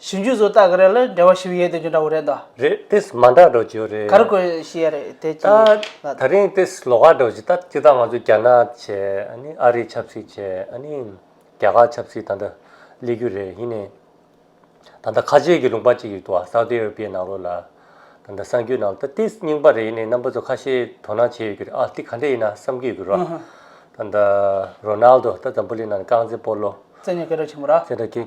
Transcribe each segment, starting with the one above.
ཞིབ་འཇུག་བཟོ་ལྟ་གི་རེད་ལ་འབྲེལ་བ་ཞིབ་ཡོད་དེ་ཅུང་འདྲ་བོ་རེད་ད། རེད་དེས་མ་འདྲ་འགྲོ་གྱི་རེད། ག་རེ་དགོས་ཤེས་ཡ་རེད་དེ་ཅི་ཡིན་ད། ད་རིང་དེས་ལོག་ཁ་འགྲོ་གྱི་ད་སྤྱི་ད་ང་ཚོ་རྒྱ་ནག་བྱས་ཨ་རི་ཆབ་སྲིད་བྱས་རྒྱ་གར་ཆབ་སྲིད་ད་ལྟ་སླེ་རྒྱུ་རེད་ཡིན་ནའི། ད་ལྟ་ཁ་ཆེ་གི་ལུང་པ་གཅིག་ཡོད་དུ་བ Saudi Arabia ནང་རོ་ལ་ད་ད་སངས་རྒྱུ་ནང་ད་དེས་རྙིང་པ་རེད་ཡིན་ནའི་རྣམ་པ་ཚོ་ཁ་ཤེ་དོ་སྣང་བྱས་ཡོད་གི་རེད་ཨ་དེ་ག་འདྲ་ཡིན་ན་བསམ་གི་ཡོད་གི་རོ། ད་ད Ronaldo ད་ཛམྦུ་ལི་ནང་ཀང་ཙེ་པོ་ལོ། ཙེ་ནི་སྐད་གྲགས་ཆེན་པོ་ར། ཙེ་ནི་སྐད།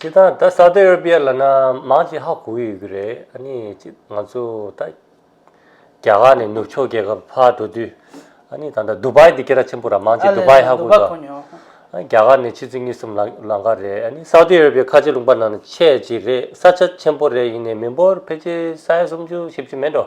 དེ་དང་ད་སཱ་ཏི་ར་བྷི་ཡ་ལ་ན་མང་ཆེ་ཧ་གོ་ཡོད་ཀྱི་རེད་ཨ་ནི་ང་ཚོ་ད་རྒྱ་གར་ནས་ནུབ་ཕྱོགས་རྒྱལ་ཁབ་ཕར་འགྲོ་དུས་ཨ་ནི་ད་ལྟ་ཟླུ་བྷའི་དེ་ག་ར་ཆེན་པོ་ར་མང་ཆེ་ཟླུ་བྷའི་ཧ་གོ་དང་རྒྱ་གར་ནས་ཕྱི་ཚུལ་གཉིས་གསུམ་ལང་ག་རེད་ཨ་ནི་སཱ་ཏི་ར་བྷི་ཡ་ཁ་ཆེ་ལུང་པ་ནང་ཆེ་གཅིག་རེད་ས་ཆ་ཆེན་པོ་རེད་ཡིན་ནས་མི་འབོར་ཕལ་ཆེར་ས་ཡ་སུམ་ཅུ་བཞི་བཅུ་མེད་འགྲོ།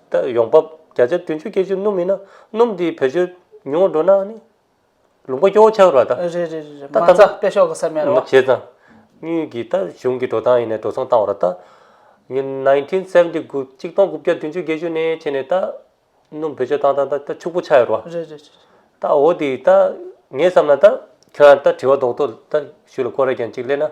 ལྟར་ཡོང་འབབ་བརྒྱ་ཆ་བདུན་ཅུ་བརྒྱད་ཅུ་སྣུམ་ཡིན་ན་སྣུམ་དེ་བེད་སྤྱོད་ཉུང་ངུ་འགྲོ་ན་ནི་ལུང་པ་སྐྱོ་བོ་ཆགས་རོགས་ད། རེད་རེད་རེད་རེད་མ་རྩ་དཔེ་ཤོག་གི་ས་མེད་རེད་བ། བྱས་ཙང། གཉིས་ཀྱིས་ད་གཞུང་གི་འགྲོ་སྟངས་ཡིན་ནའི་འགྲོ་སོང་བཏང་བ་རེད་ད། ཉིན nineteen seventy དགུ་གཅིག་སྟོང་དགུ་བརྒྱ་བདུན་ཅུ་བརྒྱད་ཅུ་ནས་བྱས་ནས་ད། སྣུམ་བེད་སྤྱོད་བཏང་བཏང་ད་ཕྱུག་པོ་ཆགས་ཡོད་རེད་བ། རེད་རེད་རེད། ད་འོ་དེ་ད་ངས་བསམ་ན་ད་ཁྱོད་རང་ད་དྲི་བ་རྡོག་རྡོག་ད་ཞུས་ལ་ཀོ་རེ་རྒྱན་གཅིག་སླེབས་ན།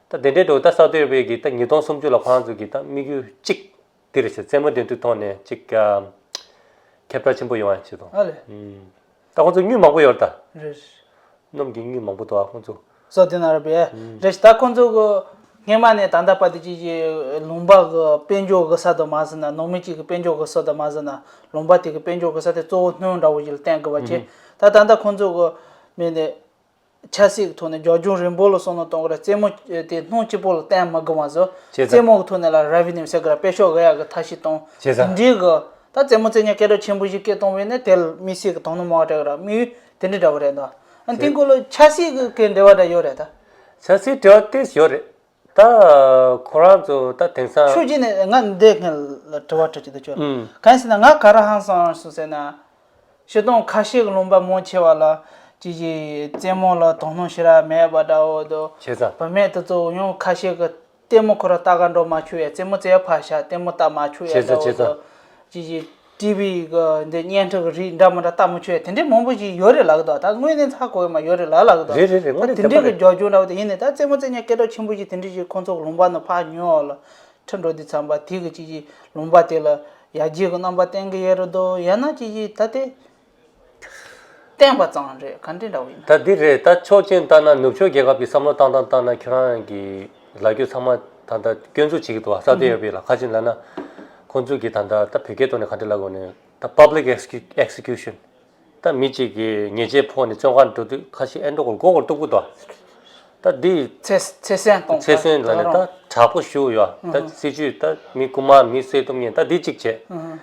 ད་དེ་འདྲའི་འགྲོ་ད་ས་དེར་བས་ཀྱི་ད་ཉིས་སྟོང་སུམ་ཅུ་ལ་བང་མཛོད་ཀྱི་ད་དམིགས་ཡུལ་གཅིག་འདིར་བྱས་རྩེད་མོ་འདི་འདུག་ཐོག་ནས་གཅིག་ཁྱབ་བསྒྲགས་ཆེན་པོ་ཡོང་བ་བྱེད་དོ་ཨ་ལས། ད་ཁོང་ཚོ་སྨྱུག་མང་པོ་ཡོད་རེད་ད། རེད། གནམ་གྱི་སྨྱུག་མང་པོ་འདུག་ཨ་ཁོང་ཚོ། སོགས་དེ་ན་རེད་པས། རེད་ད་ཁོང་ཚོ་གི་སྔན་མ་ནས་ད་ལྟ་བར་དུ་ཅིག་ཅིག་ལུང་པ་གི་དཔལ་འབྱོར་གི་ས་དུ་མ་ཟིན་ན་ནང་མི་གཅིག་གི་དཔལ་འབྱོར་གི་སོ་དུ་མ་ཟིན་ན་ལུང་པ་དེ་གི་དཔལ་འབྱོར་གི་ས་དེ་གཙོ་བོ་སྣོན་འདྲ་བོ་ཞིག་ལ་བརྟེན་དགོས་པ་བྱས་ད་ད་ལྟ་ཁོང་ཚོ་གི་མི་ནི་ཆ་སྲིད་ཀྱི་ཐོག་ནས་རྒྱ་ཁྱུང་རིན་པོ་ལ་སོགས་ནང་གཏོང་གི་ར་རྩེད་མོ་དེ་སྣང་སྐྱིད་པོ་ལ་བསྟན་མ་དགོས་མ་ཟོས་ཅེས་རྩེད་མོ་གི་ཐོག་ནས་ལ་ར་བྷི་ནིམ་ཟེར་གི་ར་དཔེ་ཤོག་གཡག་གི་མཐའ་ཞིག་བཏང། ཅེས་དང། དེ་འདྲའི་གི། ད་རྩེད་མོ་རྩེད་ཉལ་སྐད་སྒྲ་ཆེན་པོ་ཞིག་སྐད་གཏོང་བས་ནས་དེ་ལ་མི་སྲིད་ཀྱི་དོང་ནུ་མ་བ་དྲ་གི་ར་དམིགས་ཡུལ་དེ་འདྲ་འདྲ་བོ་རེད་འདོད། ཨ་ཏི་འཁོར་ལོ་ཆ་སྲིད་ཀྱི་འབྲེལ་བ་འདྲ་ཡོད་རེད་ད། ཆ་སྲིད་འབྲེལ་བ་ཏེས་ཡོད་རེད། ད་ཁོ་རང་ཚོ་ད་དེང་སང། ཆོས་རྗེ་ནས་ང་འདི་ངས་དྲི་བ་དྲི་རྒྱུ་དེ་ཁྱོད་ལ། གང་ཟེར་ན་ང་ག་རང་ཧང་སངས་སོང་ཟེར་ན། བཤད་སྟངས་ཁ་ཤས་ཀྱི་ལུང་པ་མང་ཆེ་བ་ལ། ཀྱེ་ཀྱེ་རྩེད་མོ་ལ་དོ་སྣང་ཤི་ར་མེད་པ་འདྲ་བོ་འདུག། བྱས་ཙང། བུད་མེད་དེ་ཚོ་ཡང་ཁ་ཤས་ཀྱི། ལྟད་མོ་ཁོ་ར་ལྟ་ག་འགྲོ་མ་བཅུག་ཡ་རྩེད་མོ་རྩེ་བ་ཕར་བཞག་ལྟད་མོ་ལྟ་མ་བཅུག་ཡ་འདྲ་བོ་འདུག། ཀྱེ་ཀྱེ། བྲིས་པའི་འདི་སྙན་གྲགས་ཀྱི་རིགས་འདྲ་མི་འདྲ་ལྟ་མི་ཆོད་དེ་འདྲའི་མང་པོ་ཞིག་ཡོད་རེད་ལགས་དོ་ད་དངོས་གནས་ཚ་གོ་ཡོད་མ་ཡོད་རེད་ལགས་ལགས་དོ་རེད་རེད་རེད་དངོས་གནས་དེ་འདྲའི་རྒྱག་རྒྱུ་འདྲ་བོ་དེ་ཡིན་ནས་ད་རྩེད་མོ་རྩེད་ཉེས་སྐད་གྲགས་ཆེན་པོ་ཞིག་དེ་འདྲའི་ཞིག་ཁོང་ཚོ་ལུང་པ་ནས་ཕར་ཉོས་ཨོ་ལ་ཁྲི་འགྲོ་དེ་ཚངས་པ་དེ་གི་ཅི་ཞིག་ལུང་པ་དེ་ལ་ཡར་རྒྱས་ཀྱི་རྣམ་པ་བསྟན་གི་ཡོད་རེད་དོ་ཡང་ན་ཅི་ཞིག་ད་དེ། བསྟན་པ་ཙང་རེད་ག་འདི་འདྲ་བོ་ཡིན་ན། ད་འདི་རེད་ད་ཆོག་མཆན་བཏང་ན་ནུབ་ཕྱོགས་རྒྱལ་ཁབ་ཀྱི་བསམ་བློ་བཏང་བཏང་བཏང་ན་ཁྱོད་རང་གི་ལ་རྒྱུ་ཚང་མ་ད་ལྟ་སྐྱོན་འཛུགས་བྱེད་ཀྱི་འདུག་ས་དེ་ཡོད་པའི་ལ་ཁ་ཅིག་ལ་ན་ཁོང་ཚོས་ཀྱི་ད་ལྟ་ད་བོད་སྐད་ཐོག་ནས་ག་འདྲི་ལ་དགོས་ནས་ད public execution ད་མི་གཅིག་གི་ཉེས་ཆད་ཕོག་ནས་བཙོན་ཁང་འགྲོ་དུས་ཁ་ཤི་ཨེ་འགྲོ་གོ་མགོ་སྐོར་སྟུག་པོ་འདུག་ད་འདི་ཚེ་སྲན་གཏོང་ཚེ་སྲན་ལ་ནས་ད་དྲག་པོ་ཞུ་ཡོད་ད་སྲིད་ཇུས་ད་མི་རྐུ་མ་མི་བསད་གཏུབ་ཉེས་ད་འདི་གཅིག་བྱས།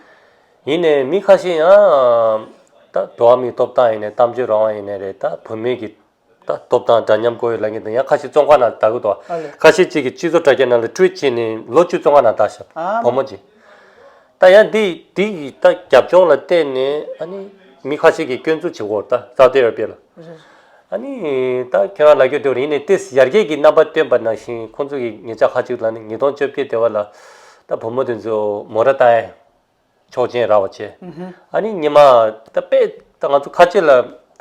ཡིན་ནས་མི་ཁ་ཤས་ཡང་ད་འགྲོ་བ་མིའི་ཐོབ་ཐང་ཡིན་ནས་གཏམ་བརྗོད་རང་དབང་ཡིན་ནས་རེད་ད་བོད་མིའི་གི་ད་ཐོབ་ཐང་འདྲ་མཉམ་དགོས་ཡོད་ལབ་ངེས་དང་ཡང་ཁ་ཤས་ཙོང་ཁ་ན་ད་གུ་དོ་ཨ་ལེ་ཁ་ཤས་གཅིག་གི་སྤྱི་ཚོགས་དྲ་རྒྱ་ནང་ལ་བཀྲུས་བྱས་ནས་ལོ་བཅུ་ཙོང་ཁ་ན་ད་ཤ་ཨ་མ་བུ་མོ་གཅིག་ད་ཡང་འདི་འདི་གི་ད་རྒྱབ་ལྗོངས་ལ་བལྟས་ནས་ཨ་ནི་མི་ཁ་ཤས་གི་སྐྱོན་འཛུགས་བྱེད་ཁོ་ད་ཟ་ཏེ་ར་པེ་ལ་རེད་ཨ་ནི་ད་ཁྱོད་རང་ལ་ཁྱོད་དེ་བ་ཡིན་ནས་ཏེ་ཡར་རྒྱས་ཀྱི་རྣམ་པ་སྟོན་པ་ནང་བཞིན་ཁོང་ཚོ་གི་ངེད་ཅག་ཁ་ཅིག་ལ་ནི་ཉིས་སྟོང་བཅོ་བརྒྱད་དེ་བ་ལ་ད་བུ་མོ་དེ་ཚོ་མོ་ར་ཏའེ་ཆོག་མཆན་རག་བ་བྱས། ཨ་ནི་ཉི་མ། ད་དཔེ་ད་ང་ཚོ་ཁ་ཆེ་ལ་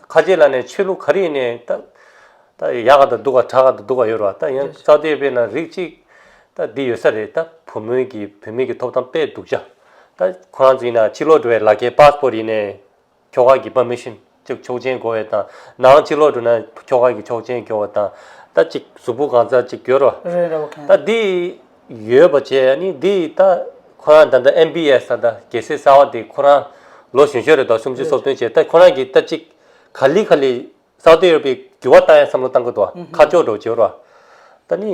ཁ་ཆེ་ལ་ནས་ཆོས་ལུགས་ག་རེ་ནས་ད་ད་ཡག་ག་ད་འདུག་ག་དྲག་ག་ད་འདུག་ག་ཡོད་ར་བ་ད་ཡང་རྩ་དོད་དཔེ་ན་རིགས་གཅིག་ད་འདི་ཡོད་ས་རེད་ད་བུ་མོའི་གི་བུད་མེད་ཀྱི་ཐོབ་ཐང་དཔེ་འདུག་བྱ། ད་ཁོ་རང་ཚོ་ཡིན་ན་ཕྱི་ལོག་འགྲོ་བའི་ལག་ཁྱེར Passport ཡིན་ནས། ཁྱོ་ག་གི་བ་མི་ཤིན་ཅིག་ཆོག་ཆེན་བགོ་བའི་དང་ནའང་གཅིག་ལོག་འགྲོ་ན་ཁྱོ་ག་གི་ཆོག་ཆེན་བགོ་བ་དང་ད་ཅིག་གཟུགས་པོ་གང་ཚར་ཅིག་གྱུར་རོ། ད་འདི་ཡོད་པ་བྱས་ནི་འདི་ད་ཁོ་རང་ད་ལྟ་ཨེམ་པི་ཨེས་ད་ལྟ་རྒྱལ་སྲས་གསར་བ་དེ་ཁོ་རང་ལོ་གཞོན་ཤོས་རེད་དོ་སུམ་ཅུ་སོ་བདུན་བྱས་ད་ཁོ་རང་གིས་ད་ཅིག་ག་ལི་ག་ལི་སའུ་ཏི་ར་པི་གི་བ་ལྟ་ཡང་བསམ་བློ་བཏང་གི་འདུག་ཁ་ཕྱོགས་འགྲོ་བྱེད་རོ། ད་ནི་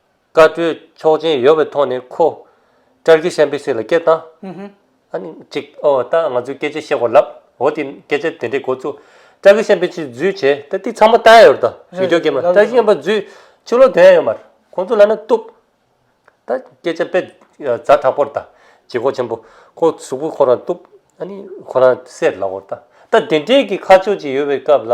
བཀའ་བགྲོས་ཆོག་མཆན་ཡོད་པའི་ཐོག་ནས་ཁོ། ཀྲར་གི་ཤན་པེ་སི་ལ་སྐད་བཏང། ཨ་ནི། ཅིག་ཨོ་ད་ང་ཚོས་སྐད་ཆ་བཤད་གོ་ལབ། འོ་དེ་སྐད་ཆ་དེ་འདྲའི་འགོ་བཙུགས། ཀྲར་གི་ཤན་པེ་སི་འཛུལ་བྱས་ད་དེ་ཚང་མ་ལྟ་ཡ་ཡོད་དོ། ཡོད་རྒྱུ་རྒྱུ་མ་ཀྲར་གི་ཤན་པ་འཛུལ། ཕྱི་ལོག་དོན་ཡ་ཡོད་མར་ཁོང་ཚོ་ལ་ན་བཏུབ། ད་སྐད་ཆ་དཔེ། རྫ་དྲག་པོར་ད། ཇེ་གོ་ཆེན་པོ། ཁོ་གཟུགས་པོ་ཁོ་རང་བཏུབ། ཨ་ནི། ཁོ་རང་སེར་ལ་གོ་ད། ད་དེ་འདྲའི་གི་ཁ་ཕྱོགས་ཅིག་ཡོད་པའི་སྐབས་ལ།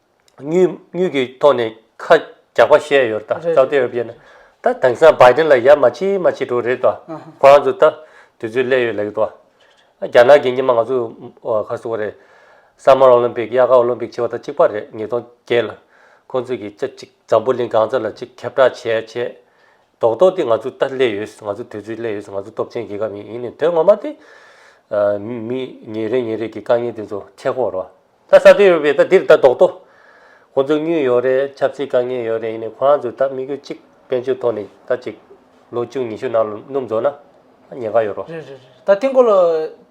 དངུལ་གྱི་ཐོག་ནས་ཁ་རྒྱག་པ་བཤད་ཡོད་ད་རེད་རེད་རེད་རེད་རེད་ད་དེང་སང་བའི་དེ་ལ་ཡ་མ་བྱེད་མ་བྱེད་འགྲོ་རེད་ད་ཨ་ཧ་ཁོ་རང་ཚོ་ད་དུས་ཚོད་སླད་ཡོད་ལེགས་ད་རེད་རེད་རྒྱ་ནག་གིས་ཉི་མ་ང་ཚོ་ཁ་གསོ་བ་རེད Summer Olympic དབྱར་ཁ Olympic བྱེད་པ་ད་གཅིག་པ་རེད་ཉིས་སྟོང་བརྒྱད་ལ་ཁོང་ཚོ་གིས་ཅག་ཅིག་འཛམ་བུ་གླིང་སྒང་རྩ་ལ་ཅིག་ཁྱབ་བསྒྲགས་བྱས་བྱས་རྡོག་རྡོག་དེ་ང་ཚོ་ད་སླད་ཡོད་ང་ཚོ་དུས་ཚོད་སླད་ཡོད་ང་ཚོ་སྟོབས་ཆེན་རྒྱལ་ཁབ་ཡིན་ཡིན་ནའི་དོན་ངོ་མ་དེ་མི་ཉིན་རེ་ཉིན་རེ་གི་དཀའ་ངལ་དེ་ཚོ་ཁྱད་ཁོག་རོ། ད་ས་དེ་ཡོད་པའི་ད་འདིར་ད་ལྡོག་ཏོ། ཁོ་ཚོ་སྙུན་ཡོད་རེད་ཆབ་སྲིད་དཀའ་ངལ་ཡོད་རེད་ཡིན་ནས་ཁོ་རང་ཚོའི་ད་དམིགས་ཡུལ་གཅིག་དཔལ་འབྱོར་ཐོག་ནས་ད་ཅིག་ལོ་བཅུ་ཉི་ཤུ་ནང་ལ་སྣུམ་རྫོགས་ན་ད་ཉེན་ཁ་ཡོད་རོ། རེད་རེད་རེད་ད་དེ་འགོ་ལོ།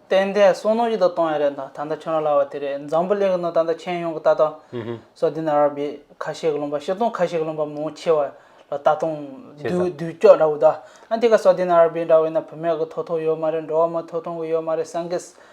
ཏན་ཏན་སོ་ནོ་ཡི་ད་གཏོང་ཡ་རེད་ད་ད་ཁྱོད་རང་ལ་བ་དེ་རེད་འཛམ་བུ་གླིང་གི་ནང་ད་ད་ཁྱེད་ཡོང་གི་ད་ད། སོ་དེ་ན་ར་བའི་ཁ་ཤས་ཀྱི་ལུང་པ་ཤེས་དང་ཁ་ཤས་ཀྱི་ལུང་པ་མང་ཆེ་བ་ལ་ད་དུང་བདུད་བདུད་ཅོག་འདྲ་བོ་ད། ཨ་དེ་ག་སོ་དེ་ན་ར་བའི་འདྲ་བས་ན་བུད་མེད་ཀྱི་ཐོ་ཐོ་ཡོད་མ་རེད་འགྲོ་བ་མ་ཐོ་ཐོང་གི་ཡོད་མ་རེད་སངས་རྒྱས།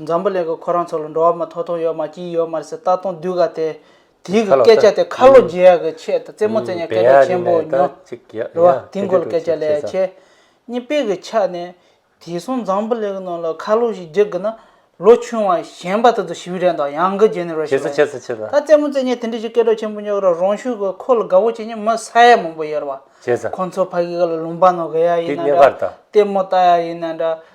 འཛམ་བུ་གླིང་གི་ཁོ་རང་ཚོ་ལ་འགྲོ་བ་མ་ཐོ་ཐོ་ཡོད་མ་སྐྱིད་ཡོད་མ་རེད་ཟེར་ལྟ་སྟོང་དུས་ག་དེ་དུས་ཀྱི་སྐད་ཆ་དེ་ཁ་ལོ་བརྗེ་ཡག་གི་ཆེད་དུ་རྩེད་མོ་རྩེ་ཉག་སྐད་ཆ་ཆེན་པོ་ཉོ་རེད་བ་དེ་འགོ་ལ་སྐད་ཆ་ལས་ཆེ་གཉིས་དཔེ་གི་ཆ་ནས་དེ་སོང་འཛམ་བུ་གླིང་གི་ནང་ལ་ཁ་ལོ་ཞིག་རྒྱག་གི་ན་ལོ་ཆུང་བ་གཞན་པ་དེ་ཚོ་ཞི་བི་རན་དང་ཡང་གི་རྗེན་ར་ཤི་ལ་ཡིན་ད་རྩེད་མོ་རྩེ་ཉག་དེ་འདྲ་ཞིག་སྐད་གྲགས་ཆེན་པོ་ཉོ་གི་ར་རང་ཤུགས་གི་ཁོ་ལ་དགའ་བོ་བྱེད་ཉིན་མི་ས་ཡ་མང་པོ་ཡོད་རེད་བ་ཁོ་ཚོ་ཕ་གི་ག་ལ་ལུང་པ་ནང་གི་ཡ་ཡིན་ན་འདྲ་རྩེད་མོ་ལྟ་ཡ་ཡིན་ན་འདྲ།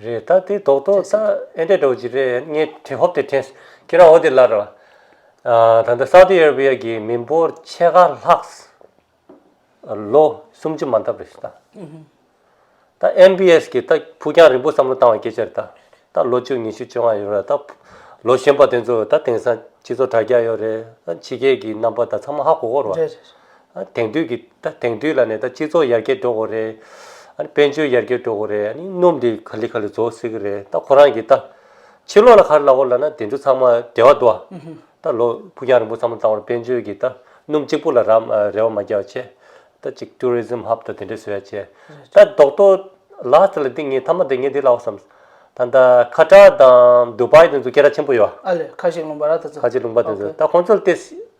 རེད་ད་དེ་དོག་དོག་ད་ཨེ་འདྲ་འདྲ་བ་ཅིག་རེད་ངས་དྲན་ཧོབ་དེ་དྲན་ཁྱེད་རང་འོ་དེ་ལར་རོ། ད་ལྟ་སཱའུ་ཏི་ཨེར་བྷི་ཡ་གི་མི་འབོར་ཕྱེད་ཀ་ལྷག་ལོ་སུམ་ཅུ་མ་འདབ་རེད་ཟེར་ད། ད་ཨེམ་བྷི་ཨེས་གིས་ད་ཕུགས་རྒྱང་རིང་པོ་བསམ་བློ་བཏང་བའི་སྐད་ཆ་རེད་ད། ད་ལོ་བཅུ་ཉི་ཤུ་བཅོ་ལྔ་ཡོད་རེད་ད། ལོ་གཞོན་པ་དེ་ཚོ་ད་དེང་སང་སྤྱི་ཚོགས་དྲ་རྒྱ་ཡོད་རེད་ད་ཕྱི་རྒྱལ་གྱི་རྣམ་པ་ད་ཚང་མ་ཧ་གོ་གོ་རེད། དེང་དུས་ཀྱི་ད་དེང་དུས་ལ་ནས་ད་སྤྱི་ཚོགས་ཡར་རྒྱས་འགྲོ་དགོས་རེད། ཨ་ནི་དཔལ་འབྱོར་ཡར་རྒྱས་འགྲོ་དགོས་རེད་ཨ་ནི་སྣུམ་དེ་ག་ལི་ག་ལི་རྫོགས་སྲིད་ཀྱི་རེད་ད་ཁོ་རང་གིས་ད། ཕྱི་ལོགས་ལ་ཁ་རི་ལ་བོར་ལ་ན་དེ་ཚོ་ཚང་མ་བདེ་བ་འདུག་ཨ། ད་ལོ་ཕུགས་རྒྱང་རིང་པོ་ཚང་མ་བཏང་བར་དཔལ་འབྱོར་གྱི་ད་སྣུམ་གཅིག་པུ་ལ་རམ་རེ་བ་མ་རྒྱག་བྱས། ད་ཅིག Tourism Hub ད་དེ་འདྲས་བཟོས་ཡ་བྱས། ད་རྡོག་ཐོ Last ལ་འདི་ངས་མཐའ་མ་འདི་ངས་འདི་ལ་བ་བསམ། ད་ད་ཁ་ཏྲ་དང Dubai དེ་ཚོ་སྐད་ར་ཆེན་པོ་ཡོད། ཨ་ལས་ཁ་ཞིག་ལུང་པ་ར་དེ་ཚོ། ཁ་ཅིག་ལུང་པ་དེ་ཚོ་ད་ཁོང་ཚོ་ལ་བལྟས།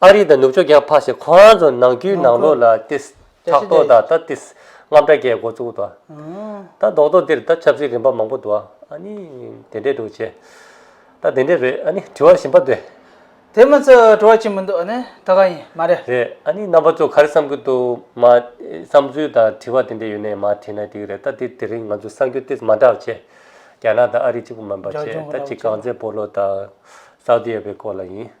ཨ་རི་དང་ནུབ་ཕྱོགས་རྒྱལ་ཁབ་ཁག་ཞིག་ཁོ་རང་ཚོ་ནང་རྒྱུའི་ནང་ལོགས་ལ་ཏིས་ཕྲག་དོག་དང་ད་ཏིས་རྔམ་དྲག་རྒྱའི་འགོ་བཙུགས་ད་ད་རྡོག་རྡོག་འདིར་ད་ཆབ་སྲིད་རིམ་པ་མང་པོ་འདུག་ཨ་ནི་དེ་འདྲས་འདུག་ཅེས་ད་དེ་འདྲས་རེད་ཨ་ནི་དྲི་བ་ཞིམ་པ་དེ། དེ་མ་ཚད་དྲི་བ་ཅི་མི་འདུག་ཨ་ནི་ད་ག་ཡིན་མ་རེད། རེད་ཨ་ནི་རྣམ་པ་ཚོ་ག་རེ་བསམ་གྱི་འདུག་མ་བསམ་ཚུལ་དང་དྲི་བ་དེ་འདྲས་ཡོད་ནས་མ་དྲིས་ན་ཐིག་རེད་ད་དེ་དེ་རིང་ང་ཚོ་གསར་འགྱུར་ཏིས་མ་དྲག་ཅེས་རྒྱ་ནག་དང་ཨ་རི་གཅིག་པུ་མིན་པ་ཆེས་ད་གཅིག་གངས་ཙན་པོ་ལོ་དང་སའུ་ཏི་ཡ་པའི་སྐོར་ལ་ཡིན།